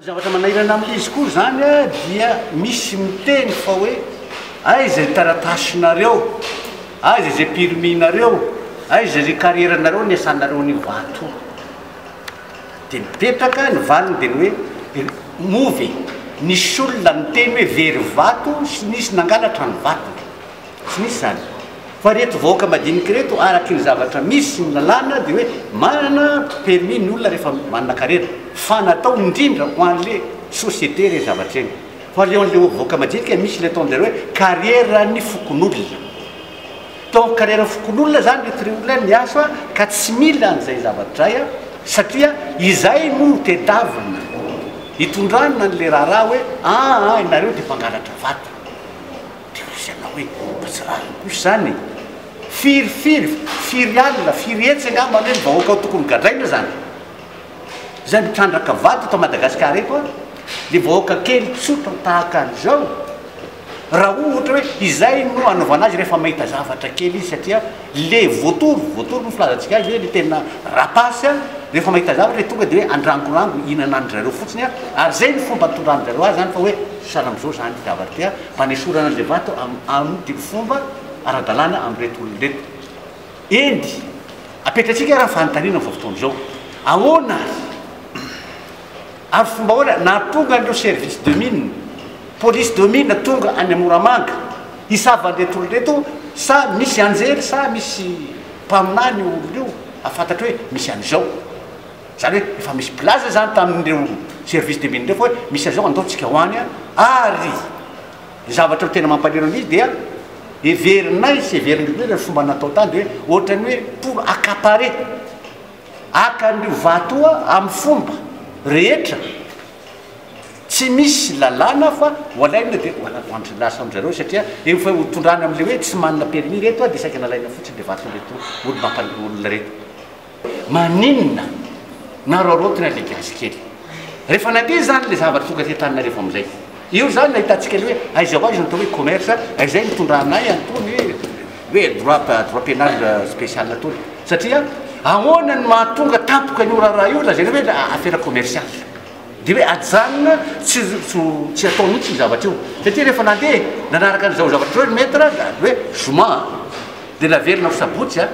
Ny zavatra manahirana amin'ilay izy koa izany dia misy miteny fa hoe aiza ny taratasinareo, aiza izay permis-nareo, aiza izay carrière-nareo niasanareo any Ivato. Dia mipetraka, ny valiny dia ny hoe move e! Nisy olona niteny hoe very vato sy nisy nangalatra ny vatony. Tsy misy izany. Fa ireto vahoaka madinika ireto, araka ny zavatra misy sy ny lalàna, dia hoe manana permis ny olona rehefa manana karena. Fa natao indrindra ho an'ilay société ireny zavatra ireny. Fa ilay ho an'ilay vahoaka madinika, misy ilay ataon'izareo hoe karieran'ny fokonolona. Tao amin'ny karieran'ny fokonolona izany ireto ireo olona miasa ka tsy mila an'izay zavatra izay, satria izay no tedavina hitondrana an'ilay raharaha hoe aa ianareo dia mpangalatra vato. Dia hoy izy anao hoe, Mba tsy rariny kosa izany e! Firy, firy, firy alina, firy hetsy angamba anie ny vahoaka ao tokony gadraina izany. Izay mitrandraka vato eto Madagasikara eto ary dia vahoaka kely tsotra tahaka an'izao. Raha ohatra hoe izay no anaovana azy rehefa mahita zavatra kely izy satria le voatoro, voatoro no filazantsika azy hoe le tena rapace a, rehefa mahita zavatra dia tonga dia hoe andrangorango, hinanan'dry zareo fotsiny a, ary izay no fomba nitondrany zareo azy izany fa hoe sahala amin'izao izany zavatra ity a, fanesorana an'izay vato amin'ity fomba ara-dalàna amin'ireto olona ireto. Eny, apetratsika ary ny fanontaniana amin'izao fotoana izao, ahoana ary? Ary fomba ahoana nahatonga an'ireo service de mine, police de mine tonga any Moramanga hisava an'ireto olona ireto? Sa misy anjely sa misy mpaminany io olona io, hahafantatro hoe misy an'izao? Izany hoe efa misy mpilaza izany tamin'ireo service de mine ireo fa hoe misy an'izao andao tsika ho any ary ny zavatra tena mampalahelo an'izy dia heverinay sy heverin'ny mpino ilay fomba natao tany dia hoe ohatran'ny hoe pour accaparer haka an'io vato io amin'ny fomba rehetra tsy misy lalàna fa ho alaina dia ho alaina lasa amin-dry zareo satria eo fa ho tondrana amin'ilay hoe tsy manana permis ireto dia saika nalaina fotsiny ilay vaton'ireto olo-mampanolo olona ireto Maninona naroarotina ilay gasy kely? Rehefa nandeha izany ilay zavatra tonga aty Antananarivo amin'izay. Io izany nahitantsika ilay hoe aiza ho aiza ny atao hoe commerce, izay nitondra anay an'itony hoe hoe droit droit pénal spécial itony. Satria ahoana no mahatonga tampoka an'io raharaha io lazaina hoe affaire commerciale. Dia hoe ajanona tsy tsy tsy atao mihitsy io zavatra io. Satria rehefa nandeha nanaraka an'izao zavatra izao ry maître dia hoe zoma dia naverina ho sabotsy a!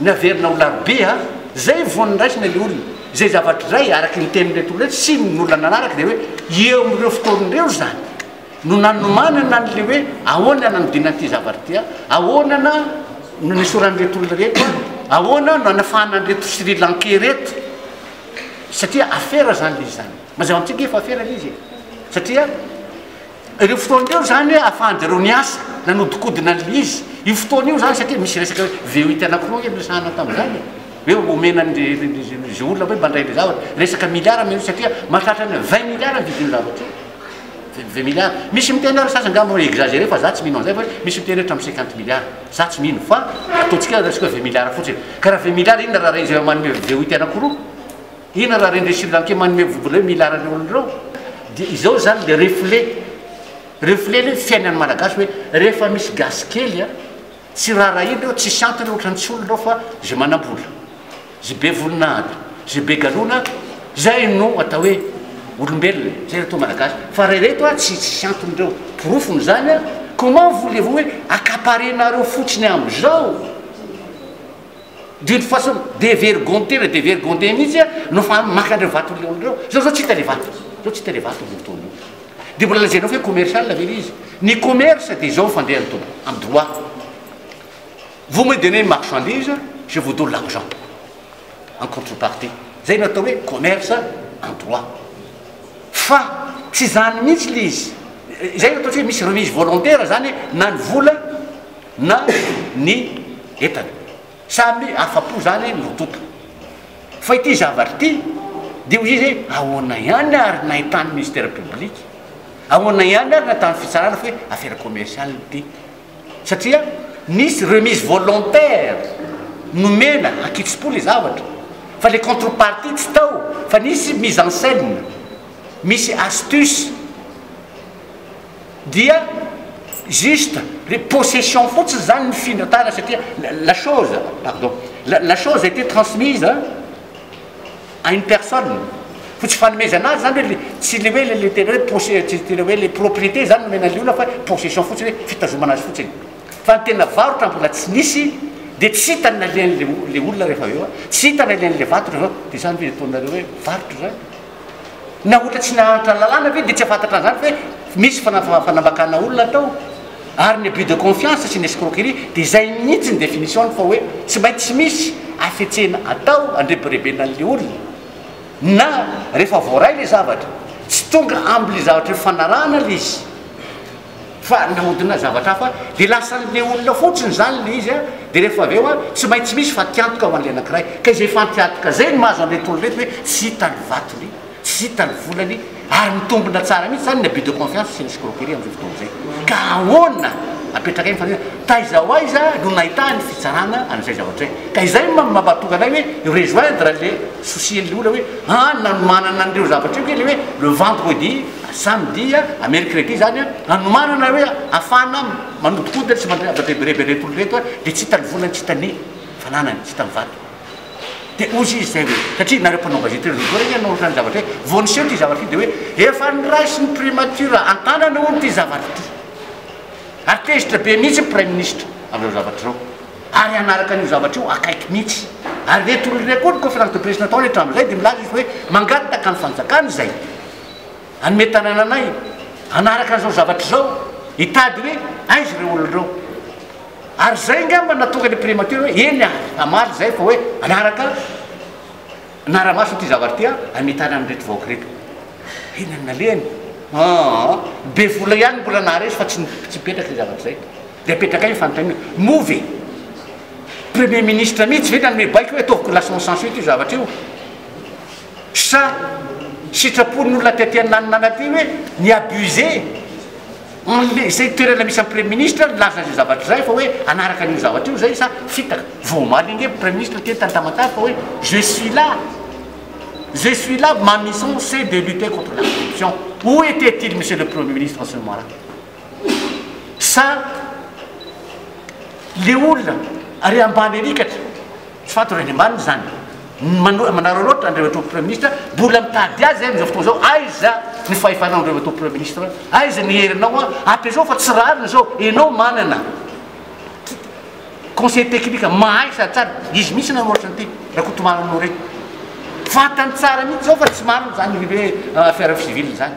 Naverina ho larobe a! Zay vao niraisina le olona. Zay zavatra iray araky ny tenin'ireto olona ireto sy ny olona nanaraka dia hoe eo amin'ireo fotoana ireo izany no nanomanana an'le hoe ahoana nanodinana ity zavatra ity a, ahoana na no nisoran'ireto olona ireto a, ahoana no hanafahana an'ireto Sri Lankais ireto satria afera izany le izy izany. Mazava amintsika ve fa afera le izy e? Satria. Ireo fotoana ireo izany hoe ahafahan-dry zareo niasa, nanodinkodina ny lys. Io fotoana io izany satria misy resaka hoe VET anankiroa ve no resahana tamin'izany e? Hoe omena an'ilay ilay olona hoe mandray ilay zavatra. Resaka miliara moa io satria mahatratra ny hoe vingt miliara ny vidin'io zavatra io. Vingt vingt miliara. Misy miteny ary ny sasany angamba mi exagerer fa za tsy mino an'izay fa hoe misy miteny hoe hatramin'ny cinquante miliara. Za tsy mino fa ataontsika resaka hoe vingt miliara fotsiny. Ka raha vingt miliara inona raha rehefa manome VET anankiroa? Hena raha ireny Sri Lankey manome vola ireo milara ireo olona ireo dia izao izany ilay reflet. Reflet ilay fiainan'ny Malagasy hoe rehefa misy gasy kely a, tsy raharahiana eo, tsisy antony ohatra ny tsy olona ao fa izay manam-bola, izay be voninahitra, izay be galona izay no atao hoe olombelona, izay atao Malagasy. Fa raha ireto a, tsy tsisy antony ireo. Porofony izany a, comment voulez-vous hoe accaparer-nareo fotsiny amin'izao? D'une façon devergondée le devergondée mihitsy no fa maka an'ireo vato ireo ireo. Zao zao tsy hita le vato. Zao tsy hita le vato amin'io fotoana io. Dia mbola lazainao fa hoe commercial ve le izy. Ny commerce dia izao ny fandehany tompo, amin'ny droit. Vous me donnez une marchandise, je vous donne l'argent en contrepartie. Zay no atao hoe commerce en droit. Fa tsy izany mihitsy le izy. Izay no ataontsika hoe misy remise volontaire zany na ny vola na ny entana. Samy afa-po izany ny roa tonta. Fa ity zavatra ity dia ho izy hoe ahoana ihany ary nahitan'ny Ministère public, ahoana ihany ary nahitan'ny fitsarana fa hoe affaire commerciale ity. Satria nisy remise volontaire nomena an-kitsim-po ilay zavatra fa ilay contrepartie tsy tao fa nisy mise en scène, misy astuce. Dia juste hoe possession fotsiny zany nifindra tara satria la chose, pardon, la chose a été transmise à une personne fa tsy fanomezana azy zany hoe tsy le hoe le tena hoe possession tsy tena hoe le propriété zany nomena an'le olona fa hoe possession fotsiny hoe fitazomana azy fotsiny fa ny tena varotra mbola tsy nisy dia tsy hita ny nalehan'le olona rehefa avy eo, tsy hita ny nalehan'le vato rehefa avy eo, dia zany ve ataonareo hoe varotra zany? na ohatra tsy nahantra ny lalàna ve dia tsy hafantatra an'izany fa hoe misy fanambakana olona tao ary ny abus de confiance sy ny escroquerie dia izay mihitsy ny définition-ny fa hoe tsy maintsy misy hafetsena atao handrebirebena an'ilay olona na rehefa voaray ilay zavatra tsy tonga am'ilay zavatra hifanarahana ilay izy fa nahodina zavatra hafa dia lasan'ilay olona fotsiny izany ilay izy a, dia rehefa avy eo a, tsy maintsy misy fatiantoka ho an'ilay anankiray, ka izay fatiantoka izay no mahazo an'ireto olona ireto hoe tsy hita ny vatony, tsy hita ny volany, ary mitombina tsara mihitsy izany ny abus de confiance sy ny escroquerie amin'izao fotoana izay, ka ahoana, apetraka eo ny fanontaniana, taiza ho aiza no nahitany fitsarana an'izay zavatra izay, ka izay no mampahatonga anay hoe rejoindre an'ilay souci an'ilay olona hoe an, nanomanana an'ireo zavatra ireo ve ilay hoe le vendredi, Izany dia hamely crédit izany an, hanomanana hoe hafahana manodikodina sy mandrebireby ireto olona ireto an, dia tsy hita ny volany, tsy hita ny fananany, tsy hita ny vato. Dia hozy izy izay hoe, satria nareo mpanao gazety ireto voalohany anie nanoratra ny zavatra hoe, vao niseho ity zavatra ity dia hoe, efa noraisin'ny primature an-tanana hono ity zavatra ity. Ary tezitra be mihitsy ny praiminisitra amin'izao zavatra izao. Ary hanaraka an'io zavatra io akaiky mihitsy. Ary ireto olona ireto koa ny conférence de presse nataony hatramin'izay dia milaza izy hoe, mangataka ny fanjakana izay. Hanome tanàna anay hanaraka an'izao zavatra izao, hitady hoe aiza ireo olona ireo. Ary izay angamba no nahatonga ny Primature hoe eny ary, hamaly izay fa hoe hanaraka hanara-maso ity zavatra ity aho, hanome tanana an'ireto vahoaka ireto. Eny ary nalehany. Aa, be vola ihany mbola naharesy fa tsy tsy mipetraka izay zavatra izay. Dia apetrakay ny fanontaniana, moa ve Premier Ministre mihitsy ve nanome baiko hoe ataovy classement sans suite io zavatra io? Sa sitrapon'ny olona aty aty ananana aty hoe mi abuse anle izay toerana misy an'i Praiminisitra nilaza izay zavatra izay fa hoe hanaraka an'io zavatra io izay sa fitaka? Vao omaly ange Praiminisitra teny tany Tamatave fa hoe je suis là, je suis là, ma mission c'est de lutter contre la corruption, où était-il Monsieur le Premier Ministre en ce moment là? sa le olona ary ambany arikatra tsy fantatro any ambany izany manararaotra andreo atao premier ministre mbola mitady azy amin'izao fotoana izao aiza ny fahefanao andreo atao premier ministre aiza ny herinao a ampiasao fa tsy rariny izao enao manana conseil technique mahay sady tsara izy mihitsy nanoratra an'ity rakotomamy anao reny fantany tsara mihitsy izao fa tsy marina izany hoe affaire civile izany